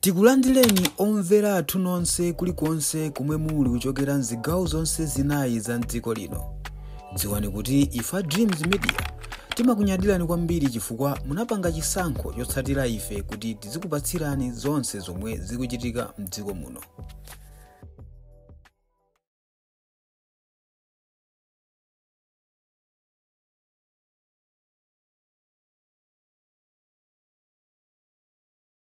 Tikulandireni omvera athu nonse kulikonse komwe muli kuchokera mzigawo zonse zinayi za mdziko lino. Dziwani kuti ife a Dreams Media timakunyadirani kwambiri chifukwa munapanga chisankho chotsatira ife kuti tizikupatsirani zonse zomwe zikuchitika mdziko muno.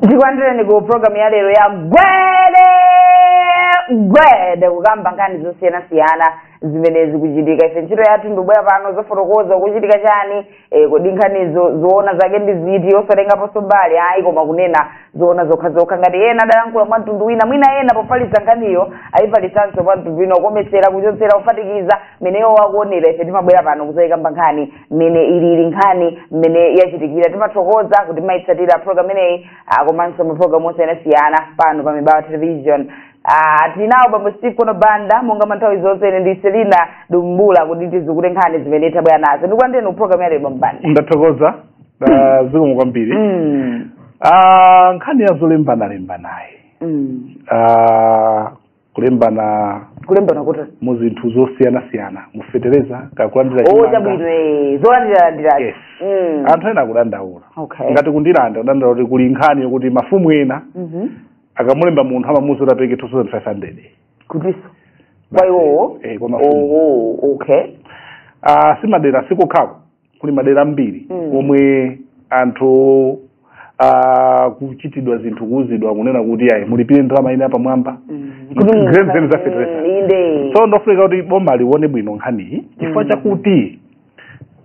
tikulandireni ku programu ya lero ya gwede gwede kukamba nkhani zosiyanasiyana zimene zikuchitika ife ntchito yathu ndikubwera pano zofotokoza kuchitika chani eh, kodi nkhanizo zoona zake ndi ziti osatengaponso mbali ayi koma kunena zoona zokhazokha ngati ena adayankhula mwa mtundu wina mwina ena pofalitsa nkhaniyo ayifalitsanso mwa mtundu wina kuwonjezera kuchotsera kuphatikiza meneyo wakuonera ife timabwera pano kuzayikamba nkhani mmene ilili nkhani mmene yachitikira timathokoza kuti mumayitsatira program imeneyi ah, komanso maprogramu osiyanasiyana pano pa mibawa television Ah, tinawo bambo steve kondwa banda monga manthawi zonse ine ndine selina dumbula kuti tisukuluze nkhani zimene tabwera nazo ndikulandireni ku program yalero bambo banda ndathokoza ah, zikomo kwambiri Mm, Ah, nkhani ya zolembanalembanayi mm, Ah, kulembana kulembana kuti mu zinthu zosiyanasiyana mufetereza kakulandira o chimanga. chabwino eh, zolandiralandira yes Mm. anthu ena akudandaula Okay. ngati ku Ndirande akudandaula kuti kuli nkhani yokuti mafumu ena Mhm. akamulemba munthu amamuuza kuti apereke 2500 kutinso kwa iwowo Eh, kwa mafumu. Oh, okay Ah, si madera sikokhako kuli madera ambiri Mm. omwe anthu akuchitidwa zinthu kuuzidwa kunena kuti ayi mulipire ndalama ina yapamwamba Mm. Zimene za fertilizer. Mm, inde so ndofunika kuti boma lione bwino nkhaniyi chifukwa Mm. chakuti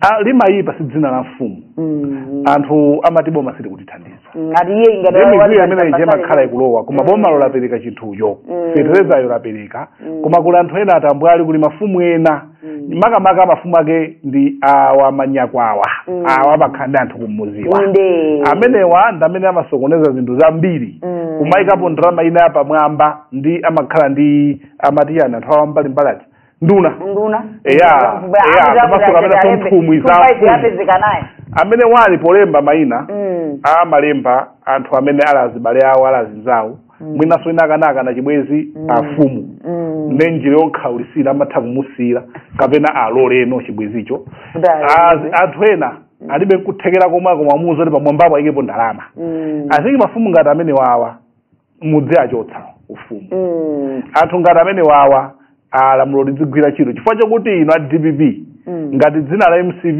ah, limayipa si dzina la mfumu Mm. anthu amati boma silikutithandiza ngati iye ingati ndi mizimu imene ija imakhala ikulowa koma Mm. bomalo lapereka chinthucho Mm. feterezayo lapereka Mm. koma kuli anthu ena atambwali kuli mafumu ena Mm. makamaka mafumu ake ndi awa manyakwawa Mm. awa amakhala ndi anthu kumudziwa inde amenewa ndi amene amasokoneza zinthu zambiri Mm. kumayikapo ndalama ina yapamwamba ndi amakhala ndi amati chani anthu a wambalimbali ati nduna nduna Eya, eya, komanso kapena so nthumwi za mfumu. yapezeka naye amene awa ndi polemba mayina Mm. amalemba anthu amene ali azibale awo ali azinzawo mwinanso ina akanakana chibwezi afumu Mm. nde njira yokhawulitsira amatha kumusiyira kapena aloleno chibwezicho Kuti alole. Az- anthu ena alibe kuthekera komwe akumamuuza kuti pamwambapo ayikepo ndalama Mm. azinji mafumu ngati amenewawa mudziachotsa ufumu Mm. anthu ngati amenewawa lamulo lidzigwira ntchito chifukwa chakuti inu a dpp Mm. ngati dzina la mcp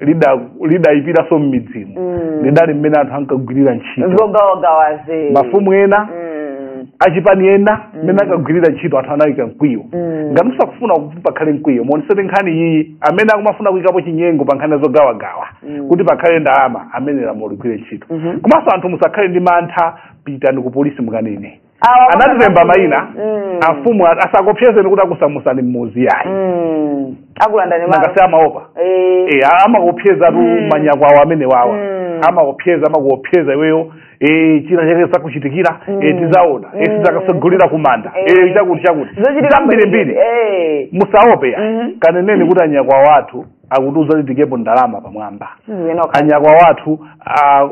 lida- lidayipiranso m'midzimu Mm. lidali mmene anthu ankagwirira ntchito zogawagawazi mafumu ena Mm. achipani ena mmene akagwirira ntchito anthu anayika mkwiyo Mm. ngati musakufuna kuti pakhale mkwiyo muonesete nkhani iyi amene akumafuna kuyikapo chinyengo pa nkhani zogawagawa Mm. kuti pakhale ndalama amene lamulo ligwire ntchito Mhm. komanso anthu musakhale ndi mantha pitani ku polisi mukanene Awa anatilemba kuti- mayina Mm. amfumu a- asakuopsezeni kuti akusamutsani mmudzi yayi Mm. akulandani malo nangasi amaopa Eh. Eh, amakuopsezatu Mm. manyakwawa amenewawa Mm. amakuopseza amakuopseza iweyo eh, china chake chikuchitikira Mm. eh, tizaona eh, Mm. sitizakatsogolera kumanda Eh. eh, chakuti chakuti Zochitika zambirimbiri mbiri. Eh. musaope yayi Mhm. kaneneni kuti anyakwawa athu akutiuza tiikepo ndalama pamwamba Sizinoka. anyakwawa athu ah,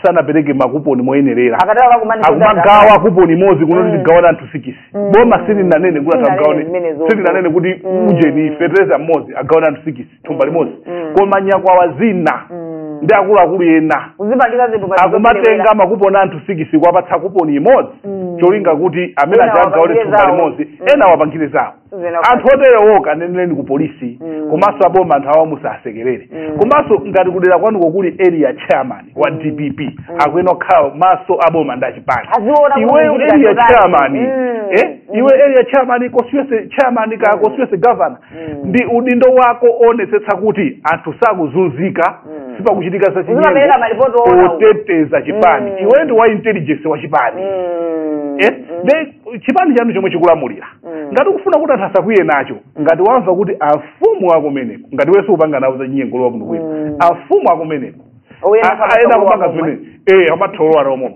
sanapereke makuponi moyenerera Akatero akakumane akumagawa kuponi imodzi kunati Mm. tigawane anthu sikisi Mm. boma silinanene kuti Silinanene atagawane zimenezo. silinanene kuti Mm. ujeni fetereza mmodzi agawane anthu sikisi thumba limodzi Mm. koma nyakwawa zina Mm. ndi akuluakulu ena kuzipangitsa zinthu ngati akumatenga zoperewera. makuponi anthu sikisi kuwapatsa kuponi imodzi Mm. cholinga kuti amene Ena aja agawane wapangire thumba zawo. limodzi Mm. ena wapangire zawo Zina- anthu oterewo kawaneneleni ku polisi Mm. komanso aboma anthu awa musasekerere Mm. komanso ngati kudera kwanuko kuli area chairman wa dpp akuyenera kukhala maso aboma ndi achipani Aziona kuti iweyo kuchita area chotani. chairman Mm. eh, Mm. iwe area chairman constituency chairman ka constituency governor Mm. ndi udindo wako kuonetsetsa kuti anthu sakuzunzika Mm. sipakuchitika za Uzipereka malipoti oona uko. oteteza chipani Mm. iwe ndi wa intelligence wa chipani Mm. eh, Mm. then chipani chanu chomwe chikulamulira Mm. ngati ukufuna kuti anthu asakwiye nacho ngati wamva kuti afumu akumeneko ngati wawo akupanga nawo zachinyengo lowa kuno kwina Mm. afumu akumeneko Oyenda A- kwa ayenda masomo kupanga wamwe. zimene eh amatholowa nomwe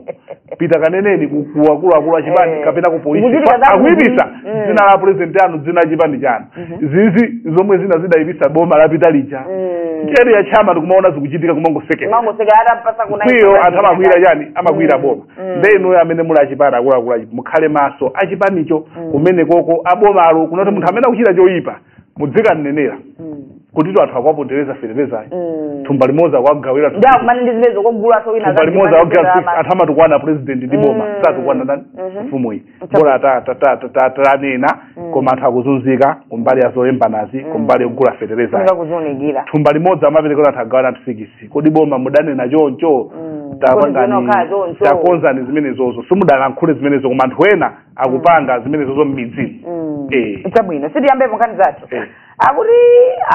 pita kaneneni ku- ku akuluakulu a chipani Eh. kapena ku polisi Kuchitika Pa- za akuyipitsa kuti- Mm. dzina la president anu dzina la chipani chanu izi zomwe zina zidayipitsa boma lapita lija Mm. njeri ya chama tikumaona zikuchitika kumangosekera Mangoseka hata mpasa kuna mkwiyo anthu amakwiyira chani amakwiyira boma Mm. nde inuyo amene muli achipani akuluakulu achi- mukhale maso achipanicho Mm. kumene koko abomalo kunati munthu amene akuchita choyipa mudzikamnenera Mm. kutitu anthu akuwapondereza feterezayo Mm. thumba limodzi akuwagawira ndi akumane ndi zimenezo kogulanso wina thumba limodzi akuwagawira anthu amatukwana president ndi boma Mm. satukwana ndani Mhm. mfumu iyi bola ta- ta- ta- ta- ta- tanena Mm. koma anthu akuzunzika kumbali ya zolembanazi Mm. kumbali yogula fetereza Funga kuzionekera thumba limodzi amapereka kuti anthu agawane anthu sikisi kodi boma mudanena choncho Mm. tapangani Kodi zokhala zoncho. takonzani zimenezozo simudalankhule zimenezo koma anthu ena akupanga zimenezozo m'midzimu Mm. Eh. chabwino tiyambe pankhani zathu Eh. akuti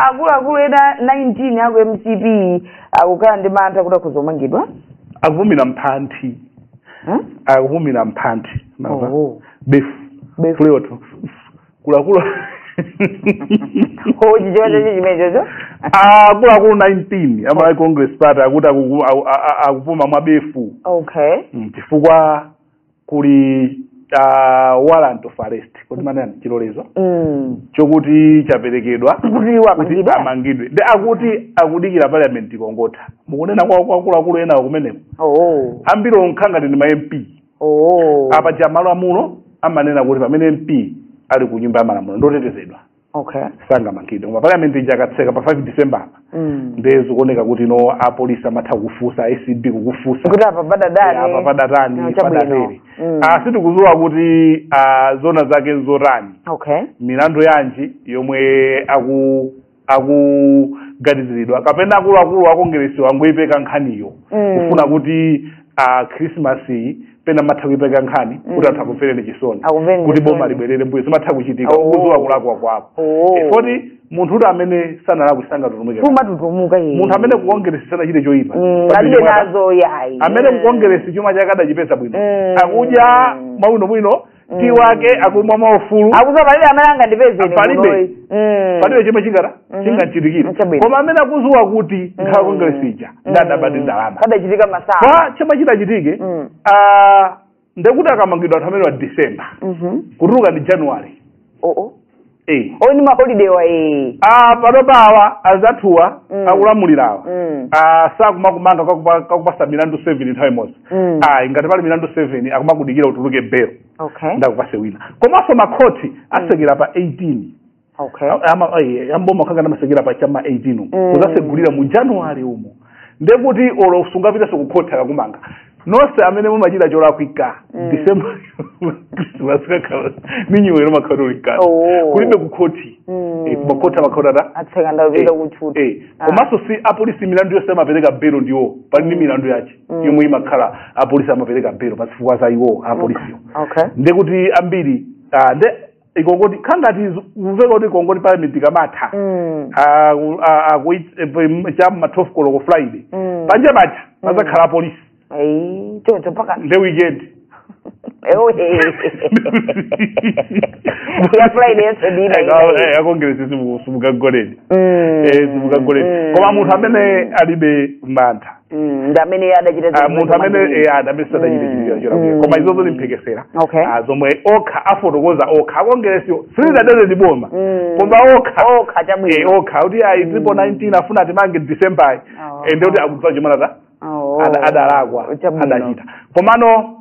akuluakulu ena 19 aku mcp akukhala ndi mantha kuti akhoza omangidwa akupumira m'mphanthi Eh? akupumira mphanthi mava Oh. befu Befu. akuluakulu Oh, chichewa chake chimenechocho akuluakulu 19 a malawi congress party akuti akuku- aku- a- a- akupuma mwa befu okay Mm, chifukwa kuli ah, warrant of arrest kuti amanena chilolezo Mm. chokuti chaperekedwa Kuti kuti wamangidwa. amangidwe nde akuti akudikira parliament ikangotha mukunena kwa kwa akuluakulu ena kumeneko Oh. ambiriwo nkhangati ndi ma mp Oh. apa paja malamulo amanena kuti pamene mp ali ku nyumba ya malamulo ndotetezedwa okay sangamangidwe koma parliament ija akatseka pa 5 december apa mm. nde zikuoneka kuti no apolisi amatha kufunsa acb kukafunsa kuti apa padadani apa padatani No, chabwino. padatere Mm. Ah, sitikudziwa kuti ah, zona zake nzotani okay milandu yanji yomwe aku akuganiziridwa kapena akuluakulu akongeresiwa angoipeka nkhaniyo Mm. kufuna kuti ah, christmas iyi pena amatha kuipeka nkhani Mm. kuti anthu akumvereni chisoni Akumvereni kuti boma chisoni. libwerere mbuyo zimatha kuchitika Oh. ukudziwa kulakwa kwako Oh. Eh, kuti munthu kuti amene sanalakwe sangatutumuke sumatutumuka iye munthu amene kukongeresi sanachite choyipa Mm, Pamene alibe chomwe ada- nazo yayi amene Mm. kukongeresi chuma chake adachipeza bwino Mm. akudya mwabwinobwino Mm. tii wake akumwa mwaufulu akuti palibe amene angandipeze ine Palibe. kunoyi. Mm. palibe chomwe chingata Mhm. chingamchitikire Chabwino. koma amene akudziwa kuti nkhani ya Mm. kongeresi ija Mm. ndidaba ndalama padachitika masaa kwa chomwe chidachitika Mm. ah, ndekuti akamangidwa anthu amenewa december Mhm. kutuluka ndi january oo Eh. oo ndi maholidewa ee Ah, panopa awa azathuwa Mm. akulamulirawa Mm. Ah, sakumakumanga kakupa- kakupasa milandu 7 nthawi imodzi Mm. ayi ngati pali milandu 7 akumakudikira utuluke belo okay nde akupase wina komanso makhoti asekera pa 18 okay amboma nkhangati amasekera pa cha ma 18 Mm. kuzasegulira mu january umo nde kuti olo sungapitenso kukhoti akakumanga nonse amene mumachita cholakwika Mm. december christmas ni new year makhoti Oh. kulibe kukhoti Mm. Eh, makhoti amakhala atatseka apita kutchuthi Eh, Ah. komanso si apolisi milandu yonse amapereka belo ndiye pali ndi milandu yake Mm. yomwe imakhala apolisi amapereka belo pa zifukwa za iwo apolisiyo okay ndekuti ambiri ah, nde ikangoti nkhangati kuveka kuti ikangoti parliament ikamatha Mm. Ah, ku- ah, ah, kuit- eh, pem- cha ma 12 koloko friday Mm. panja paja pazakhala apolisi Ayi, choncho mpaka nde weekend Ewe. Ya Friday yense ndi ina ina iyi. akongeresi simukagoleni Mm. simukagoleni Mm. koma munthu amene alibe mantha Mm, ndi amene iye adachita Ah, zinthu munthu amene zomwe- eh, adamene sadachite chipikira cholakwika Mm. koma izozo zili mphekesera Okay. Ah, zomwe okha afotokoza okha a Kongeresiwo silidadere ndi boma Mm. koma okha okha Eh, chabwino akuti ayi ndipo 19 afuna atimange december Oh. ende kuti akudziwa chimwe anachita Oh. ada- adalakwa Chabwino. adachita komano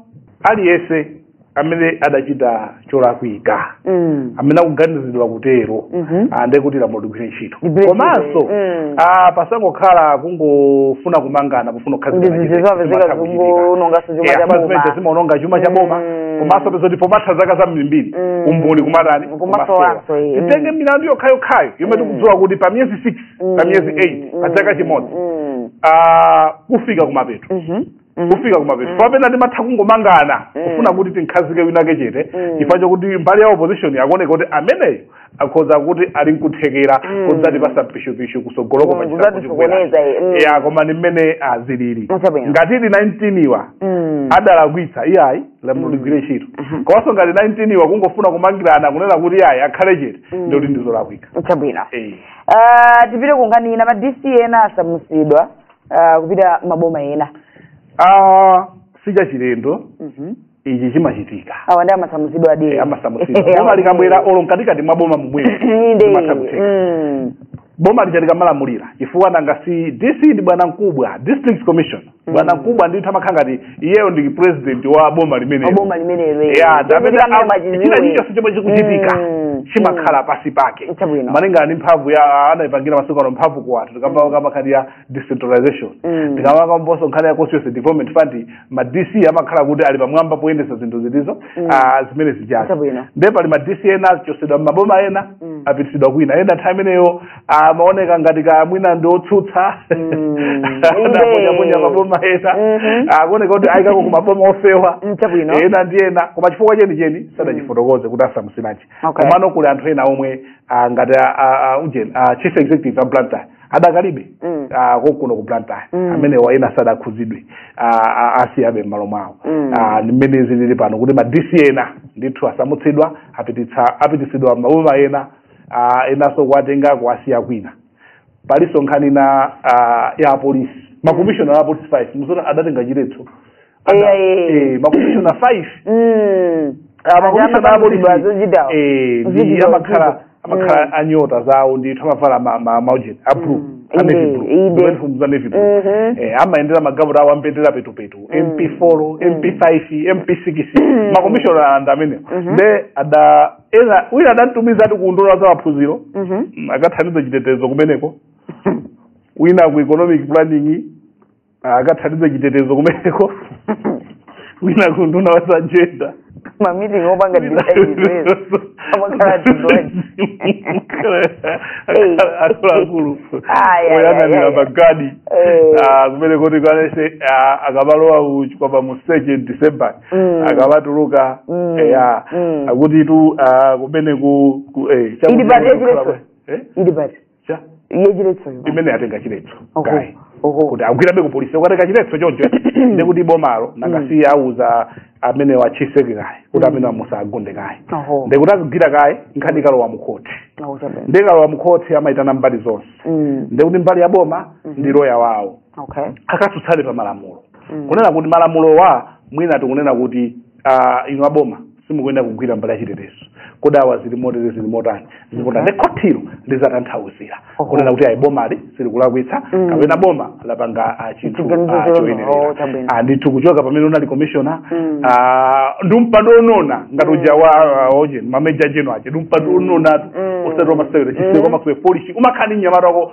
aliyense amene adachita cholakwika Mm. amene akuganizidwa kutero Mhm. ndiye kuti lamulo ligwire ntchito Ligwire komanso ntchito, mm. ah, pasangokhala kungofuna kumangana pofuna Ndi zinthu zapezeka zikuononga chuma cha boma. zimaononga chuma cha boma Mm. komanso mupeza kuti pomatha zaka zambirimbiri Mm. umboni umatani Umasowanso, eh, mm. titenge milandu yokhayokhayo yomwe tikudziwa kuti pa miyezi 6 pa miyezi 8 pa chaka chimodzi Mm. ah, kufika kumapeto Mhm. Mhm. kufika kumapeto Mhm. penapake timatha kungomangana Mhm. kufuna kuti timukhazike winake chete Mhm. chifukwa chakuti mbali ya opposition akuoneka kuti ameneyo akhoza kuti ali nkuthekera Mhm. kudzatipasa pishupishu kutsogoloko Mhm, pachisankho kudzatisokoneza, eh, mhm. ya koma ni mmene zilili Mm, chabwino. ngati ili 19 iwa Mm. adalakwitsa iyayi lamulo ligwire ntchito Mhm. komanso ngati 19 iwa kungofuna kumangirana kunena kuti iyayi akhale chete Mm. ndiye kuti ndizolakwika chabwino Eh. Ah, tipite ku nkhani ina ma dc ena asamutsidwa uh, kupita maboma ena ah sichachilendo Mhm. ichi chimachitika awa amasamutsidwa Eh, a dc amasamutsidwa boma likabwera olo mkatikati mwa boma momwemo inde zimatha kutheka Mm. boma lija likamalamulira chifukwa nanga si dc ndi bwanamkubwa district commissioner bwanamkubwa ndithu amakhala ngati iyeyo ndi president wa boma limenelo boma limenelo eh. ya Chomwe amene chikambira am- pachiziwe. china chilichonse chomwe chikuchitika Mm, chimakhala pansi pake Chabwino. malinga ndi mphamvu ija anaipangira masiku ano mphamvu ku anthu tikamba kamba nkhani ya decentralization Mm. tikamba kambanso nkhani ya constituency development fund ma dc amakhala kuti ali pamwamba poyendetsa zinthu zotizo Mm. ah, zimene zijazi Chabwino. nde pali ma dc ena achotsedwa m'maboma ena Mm. apititsidwa kwina ena nthawi imeneyo amaoneka ngati kaya mwina ndi otsutsa Mm, anaponyaponya inde. maboma ena Mhm. akuoneka kuti awaikako ku maboma ofewa Mm, chabwino. ena ndi ena koma chifukwa chenicheni sadachifotokoze kuti asamutsiranji Okay. komano kuli anthu ena omwe ah, ngati a- a- a- ujeni a chief executive a blantyre adakalibe Mm. ah, konkuno ku blantyre Mm. amenewa ena sadakhudzidwe ah, ah, awasiyabe m'malo mwawo Mm. Ah, ndi mmene zilili pano kuti ma dc ena ndithu asamutsidwa apititsa apititsidwa maboma ena uh, enanso kuwatenga kuwasiya kwina palinso nkhani ina uh, ya apolisi makomishona a apolisi 5 mwamva zoti adatenga chiletso Ada- Eya, eya, eya. eh, makomishona 5 Mm. Ah, makomishona Aja a apolisi amakanizidwa zochitawo. eh, ndi Zochitawo, amakhala zochitawo. amakhala Mm. ndi nyota zawo ndithu amavala ma- ma- maujeni ablu Mm. Inde, inde. uniform za navy blue Mhm. Eh, amayendera magalimoto awo a mbendera petupetu mp 4 mp 5 mp 6 makomishona athu amenewo Mhm. nde ada ena wina adamtumiza ati ku unduna wa za maphunziro Mhm. mm, akathandiza chitetezo kumeneko wina ku economic planning ah, akathandiza chitetezo kumeneko wina ku unduna wa za jenda mamiting opanga disaizezi amakhala tidwaji akuluakulu Ayi, ayi, oyang'anira ayi, ayi. magadi Eh. ah, kumene kuti kaya akabalowa uchikwapa mu 2 december Mm. akawatulutsa Mm. eya Mm. akuti tu ah, kumene ku ku- eh, chakuti Ili pati kukhala- yachiletso? Eh? ili pati Cha? yachiletsoyo imene atenga chiletso Oho, kaye oho. kuti agwirebe ku polisi ukatenga chiletso choncho nde kuti bomalo nanga si liuza amenewa atsike kaye kuti amenewa musawagunde kaye Oho. nde kuti azigwira kaye nkhani ikalowa mukhoti Akuchabe. ndi ikalowa mukhoti amayitana mbali zonse Mm. nde kuti mbali ya boma ndi loya wawo okay akatsutsane pa malamulo Mm. kunena kuti malamulowa mwina tikunena kuti uh, inu aboma simukuyenera kugwira mbali ya chitetezo kodi apa zili motere zili motani zilipota Okay. nde khotilo lizatanthauzira Oho. kunena kuti ayi bomalo silikulakwitsa Mm. kapena boma lapanga ah, chinthu Chiganizo ah, chanu. choyenerera. Oh, chabwino. Ah, ndithu kuchoka pamene munali commissioner Mm. ah, ndi mpando wonona ngati uja wa ah, oja ma major general aje ndi mpando wononatu Mm. osati wa masewero Mm. chiseko makuwa polishi umakhala ndi nyamata wako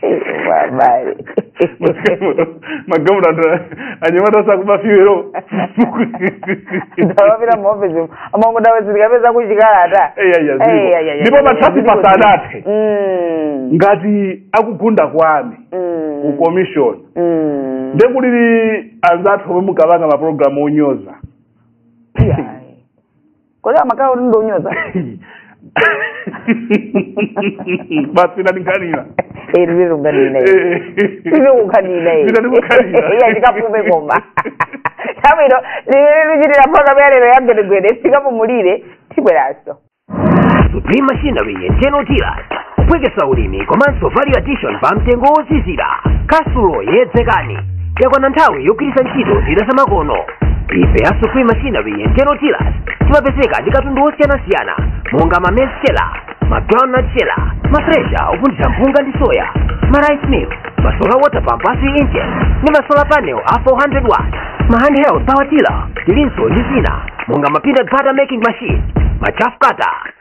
Bye-bye. magamu anthu anyamata za kubafa wero ndikapita muofisi amangodawezereka peza kuchikalata Eya, eya, ziko. Eya, eya, eya, Ndipo eya, patsala ziko, ziko. pasanathe. Mm, ngati akugunda kwami mm, ku commission mm. nde kuli anzathu omwe mukapanga mapulogalamu onyoza Yeah. kodi amakhala kuti ndonyoza basi ndanikanira iri rirunganina iri kukanina iya ndikapume koma zabwino likuchitira programu yalero ya gwedegwede tikapumulire tibweranso supreme machinery and general dealers kuphweketsa ulimi komanso value addition pa mtengo wozizira kwa sulo yedzekani yakwana nthawi yogwiritsa ntchito zida zamakono ife a supreme machinery and general dealers timapezeka ndi katundu wosiyanasiyana monga ma maize sheller ma groundnut sheller ma thresher opunthira mpunga ndi soya ma rice mill ma solar water pump a 3 inches ndi ma solar panel a 400 watt ma handheld power tiller tilinso ndi zina monga ma peanut butter making machine ma chaff cutter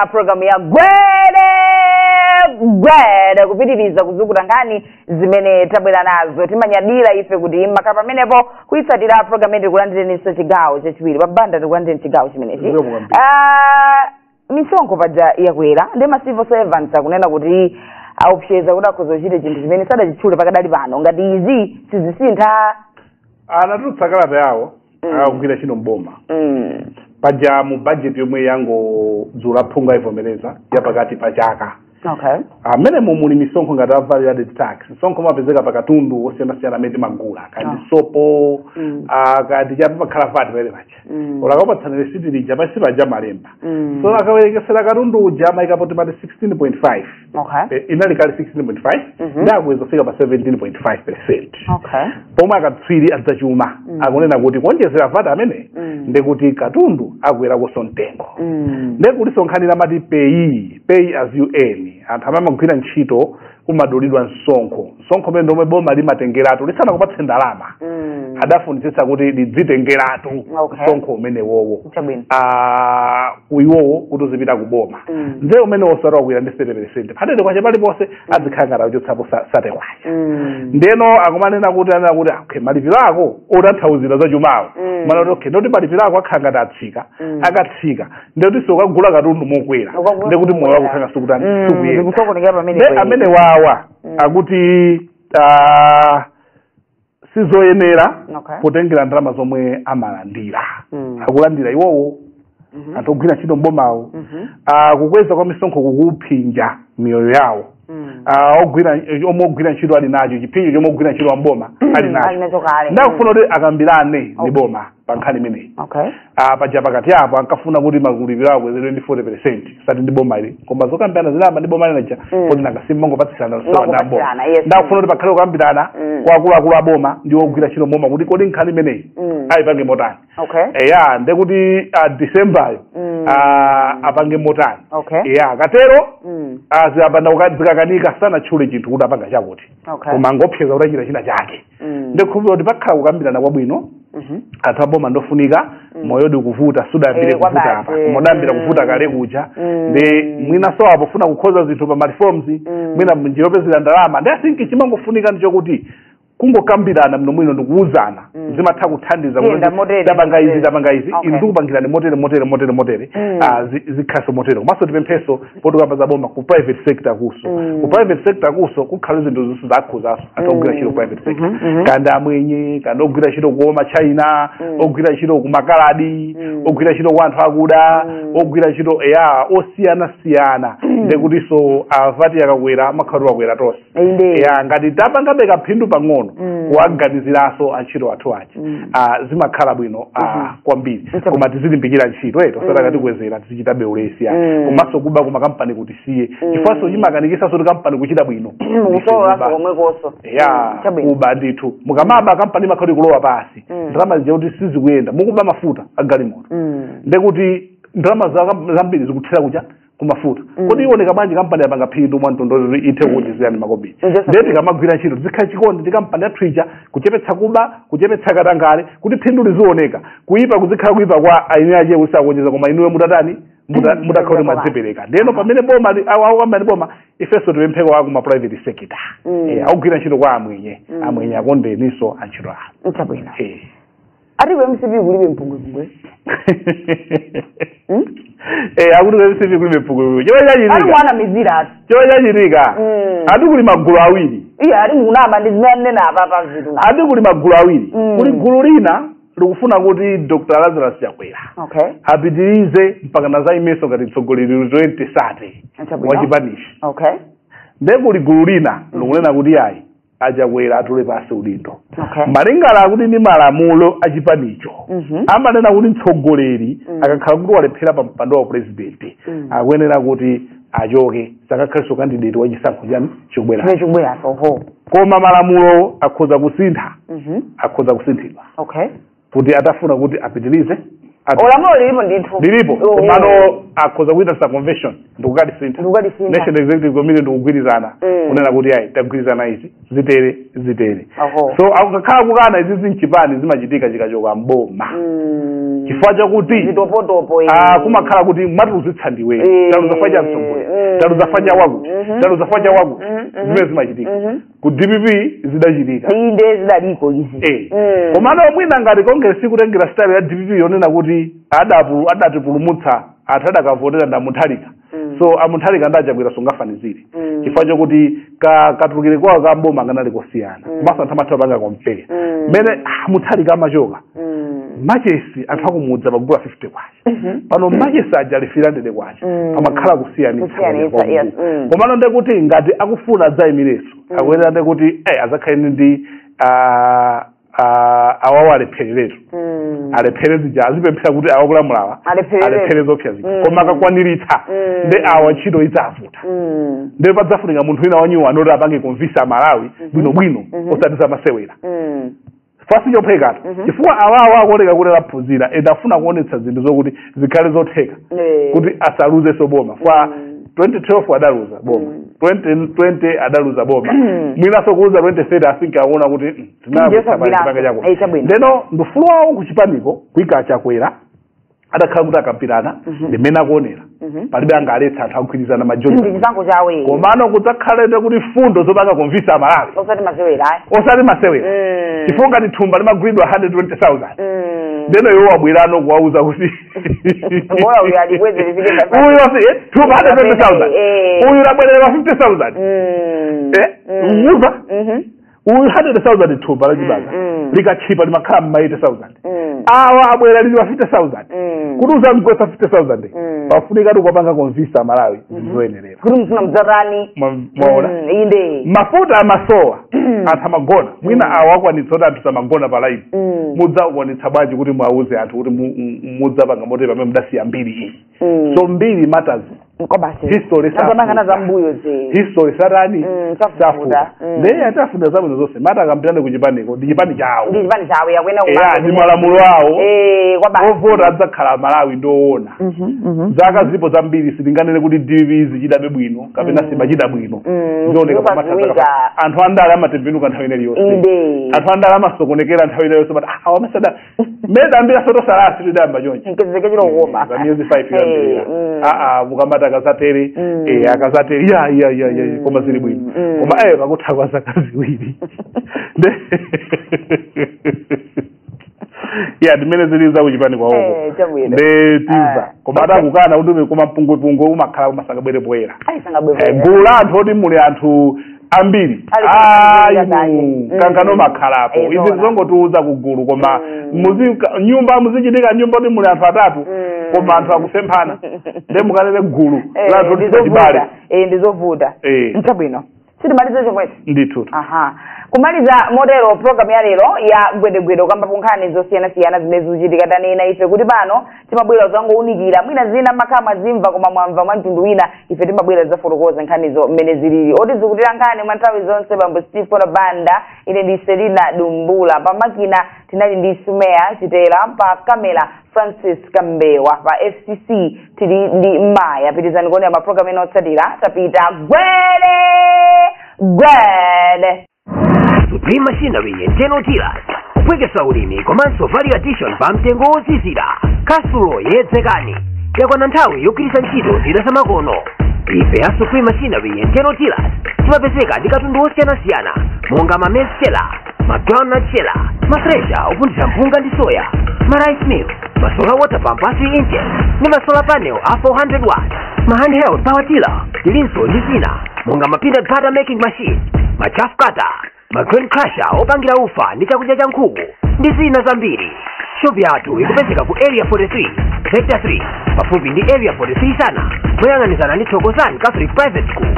ya programu ya gwede gwede kupitiriza kuzukuta nkhani zimene tabwera nazo timanyadira ife kuti mumakhala pamenepo kuyitsatira programu yathu tikulandireninso chigawo chachiwiri a Banda tikulandireni chigawo chimenechi Zikomo kwambiri. Ah, misonkho paja yakwera nde ma civil servants akunena kuti akuopseza kuti akhoza kuchita chinthu chimene sadachitchule pakadali pano ngati izi sizisintha anatulutsa kalata yawo Mm. akugwira ntchito mboma Mm. paja mu budget yomwe yangodutsa aphungu ayivomereza ya pakati pa chaka Okay. mmene muli misonkho ngati a value added tax msonkho umene umapezeka pa katundu wosiyanasiyana amene timagula kaya ndi Ah. sopo Mm. ah, kaya ndi chapa pamakhala VAT paja paja Mm. olo akakupatsani resiti lija pansi paja amalemba Mm. so akawerengetsera katundu uja amayikapo timati 16.5 okay Eh, inali kale 16.5 Mhm. ndiye akweza kufika pa 17.5 percent okay pomwe akatswiri azachuma Mm. akunena kuti kuonjezera VAT ameneyu Mm. ndekuti katundu akweranso mtengo Mm. nde kuli msonkho wina amati PAYE pay as you earn anthu amene amagwira ntchito umadulidwa msonkho msonkho umene omwe boma limatengeratu lisanakupatseni ndalama Mm. amafunitsitsa kuti lidzitengeratu Okay. msonkho umenewowo Chabwino. Ah, uwowo kuti uzipita ku boma Mm. nde umene wosati wakwira ndi 30 percent pa sate kwacha paliponse azikhala ngati akuchotsapo sa- sate kwacha Mm. ndeno akumanena kuti anena kuti "Ah, okay malipiro ako otanthauzira za chumawo Mm. amanena kuti okay ndekuti malipiro ako akhala ngati atsika Mm. akatsika ndekuti siukagula katundu mokwera Ukagula ndekuti moyo wako mokwera. ukhala sukutani Mm, sukuyenda ndikusokonekera pamene ne pali. amenewawa Mm. akuti ah, sizoyenera Okay. potengera ndalama zomwe amalandira Mm. akulandira iwowo Mhm. anthu ogwira ntchito mbomawo Mhm. Ah, kukweza kwa misonkho kukuphinja miyoyo yawo Mm. Ah, ogwira omwe ogwira ntchito ali nacho chiphinjo chomwe ogwira ntchito a mboma ali nacho alinacho kale nde akufuna kuti akambirane ndi Okay. boma pa nkhani imeneyi okay Ah, paja pakati apo ankafuna kuti malipiro awo akwezedwe ndi 40 percent osati ndi boma ili koma zokambirana zinayamba ndi boma linalija Mm. kuti nakasimba ngopatsirana lusowa ndi aboma Ngokupatsirana, yes. nde akufuna kuti pakhale kukambirana Mm. kwa akuluakulu a boma ndi ogwira ntchito mboma kuti kodi nkhani imeneyi Mm. ayipange motani okay eya ndekuti ah, decemberyo Mm. ah, apange motani okay eya katero mm. aziyambana zikakanika sanatchule chinthu kuti apanga chakuti okay koma angoopseza kuti achita china chake Mm. ndikhulupira kuti pakhala kukambirana kwabwino Mhm. anthu aboma ndofunika moyo ukuvuta siudayambire Eh, kuvuta kwabasi. apa koma udayambira Mm. kuvuta kale kuja Mm. nde mwinanso apa ofuna kukonza zinthu pa mareforms mwina mnjira yopezera ndalama ndi asinki chimangofunika ndi chokuti kungokambirana bwinobwino ndikuwuzana zimatha kuthandiza Yenda kuti motere, tapanga izi motere. tapanga izi Okay. inu ndikupangirani motere motere motere motere Mm. Ah, zi- zikhalenso motere komanso tipemphenso poti tukamba za boma ku private sector kunso Mm. ku private sector kunso kukhale zinthu zonse zakhudzanso anthu ogwira ntchito ku private sector Mhm, mhm. kaya ndi amwenye kaya ndi ogwira ntchito kwa ma China Mm. ogwira ntchito kwa makaladi Mm. ogwira ntchito kwa anthu akuda Mm. ogwira ntchito eya osiyana siyana ndekutinso VAT ikakwera imakhala kuti yakwera tonse inde ya ngati tapangabe kaphindu pang'ono Mm. kuwaganiziranso antchito athu achi Mm. ah, zimakhala bwino ah, kwambiri Nso- koma tizilimbikira ntchito eti Mm. osati akatikwezera tizichitabe ulesi ya Mm. komanso kuba kumakampaniku tisiye Mm. chifukwanso chimakanikitsanso kuti kampani kuchita bwino mukusowa Ndikuba. komwekonso ya Mm, chabwino kuba ndithu mukamaba kampani imakhala ikulowa pansi Mm. ndalama zija kuti sizikuyenda mukuba mafuta agalimoto Mm. ndekuti ndalama za- zambiri zikuthera kucha kumafuta mm. kodi iwoneka bwanji kampani yapanga phindu mwa mtundu woti ithe mm. kuwonjezerani makobiri ndiye tikamagwira ntchito tizikhala chikondi ndi kampani yathu ija kuchepetsa kuba kuchepetsa katangale kuti phindu liziwoneka kuyipa kuzikhala kuyipa kwa eni ake osakuwonjeza koma inuyo mutatani mutakhala kuti mwadzipereka ndiyeno pamene boma ayamba ndi boma ifenso tipempheko aku ma private sector mm. eh, akugwira ntchito kwa amwenye amwenye akondeninso antchito awo nchabwino eh. ati ku mcp kulibe mpungwepungwe Hmm? Eh, akuti ku mcp kulibe mpungwepungwe chomwe ati chachitika mwanamizira ati chomwe chachitika Mm. ati kuli magulu awiri iye ati mukunama ndi zimene anena apa pa zinthu na ati kuli magulu awiri Mm. kuli gulu lina likufuna kuti dr lazarus chakwera okay apitirize mpakana azaimenso ngati mtsogoleri wa 2030 Chabwino. wachipanichi okay nde kuli gulu lina likunena kuti ayi achakwera atule pansi udindo Okay. malingana akuti ndi malamulo a chipanicho Mhm. amanena kuti mtsogoleri Mm. akakhala kuti walephera pa mpando wa purezidenti Mm. akuyenera kuti achoke sakakhalenso kandideti wa chisankho chani chobwera Chimene chikubweracho. koma malamulo akhoza kusintha Mhm. akhoza kusinthidwa Okay. kuti atafuna kuti apitirize ati- lamulo lilipo ndithu lilipo Oh. komano akhoza kuitanitsa convention ndikukalisintha Ndikukalisintha. national executive committee ndikugwirizana Mm. kunena kuti ayi tagwirizana izi zitere zitere Aho. so akakhala kukana izi m'chipani zimachitika chikachoka mboma Mm. chifukwa chakuti zitopotopo eh. Ah, kumakhala kuti watiluzitsa ndiwe Eh, taluza chifukwa cha mtsogoleri eh, taluza chifukwa cha wakuti mhm, taluza chifukwa cha wakuti mhm, mhm. zimene zimachitika mhm. ku dpp zidachitika inde zidaliko izi Eh. Mm. komano mwina ngati congress ikutengera style ya dpp yonena kuti adapu- adatipulumutsa anthu adakavotera ndi a mutharika Mm. so a mutharika ndi achakwera sungafanizire Mm. chifukwa chokuti ka- katulukire kwawo ka mboma kanali kosiyana Mm. komanso anthu amatha kupanga compare Mm. mmene a mutharika amachoka Mm. machesi anthu akumudzi amagula 50 kwacha Mhm. pano machesi aja ali 300 kwacha Mm. pamakhala kusiyanitsa Kusiyanitsa, kwa yes, Mulungu. mm. komano nde kuti ngati akufuna adzayimirenso akuyenera nde kuti eh, azakhaleni ndi ah, ah, awawa alephereretu Mm. alephere zija azipemphera kuti awa akulamulawa Alepherere. alephere zoopsa zija Mm. koma akakwaniritsa Mm. nde awa ntchito idzavuta Mm. nde padzafunika munthu wina wanyuwani oti apange convince amalawi bwinobwino osati zamasewera Mm. chifukwa sichophwekatu Mhm. chifukwa awawo akuoneka kuti adaphunzira and afuna kuonetsa zinthu zokuti zikhale zotheka Eh. kuti asaluzenso boma kwa Mm. 2012 adaluza boma Mm. 2020 adaluza boma Mm. mwinanso kuluza 2030 asinke akuona kuti mm, Ndiyo sabwirapo. tinapanga chako Eh, chabwino. ndeno ndufulu wawo kuchipaniko kuika chakwera atakhala kuti akambirana Mhm. ndimene akuonera Mhm. palibe angaletse anthu akugwirizana majoni ndi chisankho chawo iye komano kudzakhalete kuti mfundo zomwe akakonvinsa amalawi osati masewera ayi osati masewera Mm. chifukwa ngati thumba limagulidwa 120000 Mm. ndeno iwo abwera kuwauza kuti Bora uyu alikweze lifike pa- uyu wasi- eh, thumba 120000 Eh. uyu labwerera 50000 Mm. Eh, Mm. mukumva? Mhm. uyu 100,000 thumba lachibadwa Mm, mm. likatchipa limakhala mma 80,000 Mm. awa abwera lili pa 50,000 Mm. kuti uzamgwetsa 50,000 Mm. pafunika kuti kuwapanga convince amalawi zoyenerera kuti mufuna mudzatani Mwa- mwaona Mm, inde mafuta amasowa anthu amagona mwina awa akwanitsa kuti anthu samagona pa line Mm. mudzakwanitsa bwanji kuti mwauze anthu kuti mu- mu- mudzapanga motero pamene mudasiya mbiri iyi Mm. so mbiri matters kwabasi history Tapanganana za mbuyo zi history satani Mm, sifuta. sifuta Mm. ndeye tawafunira zabwino zonse mata akambirane ku chipaniko ndi chipani chawo ndi chipani chawo yakuyenera eya kumanga ndi malamulo awo eh kwabasi ovota adzakhala amalawi ndizoona Mhm, mhm. zaka zilipo zambiri sitinganene kuti DPP ichitabe bwino kapena simachita bwino Mm, zioneka pa matha zikupadziwika. zaka- anthu andale amatembenuka nthawi ina iliyonse inde anthu andale amasokonekera nthawi ina iliyonse but ah, awa amasada mmene tayambira soto salasi tidayamba chonchi mkezeke chilo kuopa za miyezi five Eh, yambirira mm. aa mukamati akadzatere Mm. eh, akazatere ya ya ya ya Mm. koma zili bwino Mm. koma ayo kakutha kwa zaka ziwiri Nde- ya ndimene zili za kuchipani kwaoko Eh, chabwino. nde timva Ah. koma atakukana kuti koma mpungwepungwe umakhala usanabwere poyera ayi Eh, sangabwebwera gulu la anthu oti muli anthu ambiri Ali ayi kumakanizira kanye. mu- Mm. kankano umakhalapo Eh, izi zoona. zongotiuza ku gulu koma Mm. muzi ka- nyumba mumachitika nyumba yoti muli anthu atatu Mm. koma anthu akusemphana nde mukanene gulu Eh, la anthu ndizovuta. tisachibale Eh, ndizovuta Eh. nchabwino timalize chomwecho ndithu aha kumaliza motero programu ya lero ya gwede gwede takambapo nkhani zosiyanasiyana zimene zikuchitika tanena ife kuti pano timabwera kudzangounikira mwina zina mumakhala mwazimva koma mwamva mwa mtundu wina ife timabwera zafotokoza nkhanizo mmene zilili otizukutira nkhani mwa nthawi zonse bambo steve kondwa banda ine ndi selina dumbula pa makina tinali ndi sumeya chitera pa kamera francis kambewa pa fcc tili ndi maya pitirizani kuonera mapulogalamu ena otsatira tapita gwede gwede Supreme Machinery and General Dealers kuphweketsa ulimi komanso value addition pa mtengo wozizira kwathu kuno yedzekani yakwana nthawi yogwiritsa ntchito zida zamakono ife a Supreme Machinery and General Dealers timapezeka ndi katundu wosiyanasiyana monga ma maize sheller ma groundnut sheller ma thresher opunthira mpunga ndi soya ma rice mill ma solar water pump a 3 inches ndi ma solar panel a 400 watts ma handheld power tiller tilinso ndi zina monga ma peanut butter making machine ma chaff cutter ma grain crusher opangira ufa ndi chakudya cha nkhuku ndi zina zambiri shopu yathu ikupezeka ku area 43 sector 3 pafupi ndi area 43 Sana moyang'anizana ndi thokozani catholic private school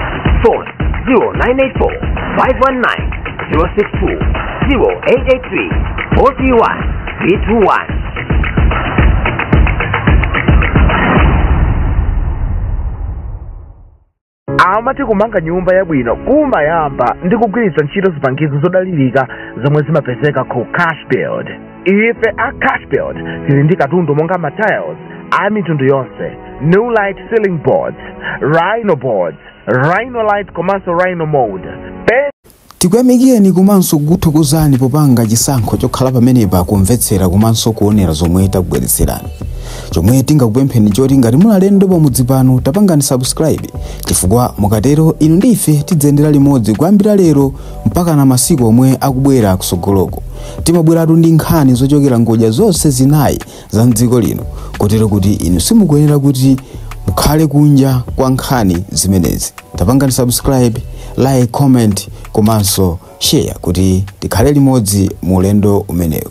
amati kumanga nyumba yabwino kumayamba ndi kugwiritsa ntchito zipangizo zodalirika zomwe zimapezeka ku cashbuild ife a cashbuild tili ndi katundu monga matiles a mitundu yonse Nulite ceiling boards rhino boards Rhinolite komanso Rhino Mould. tikuyamikireni komanso kukuthokozani popanga chisankho chokhala pamenepa kumvetsera komanso kuonera zomwe takubweretserani chomwe tingakupempheni choti ngati muli alendo pamudzi pano tapangani subscribe chifukwa mukatero inu ndi ife tidziyendera limodzi kuyambira lero mpakana masiku omwe akubwera kusogoloko timabweratu ndi nkhani zochokera ngodya zonse zinayi za mdziko lino kotero kuti inu simukuyenera kuti mukhale kunja kwa nkhani zimenezi tapangani subscribe like comment komanso share kuti tikhale limodzi mu ulendo umenewu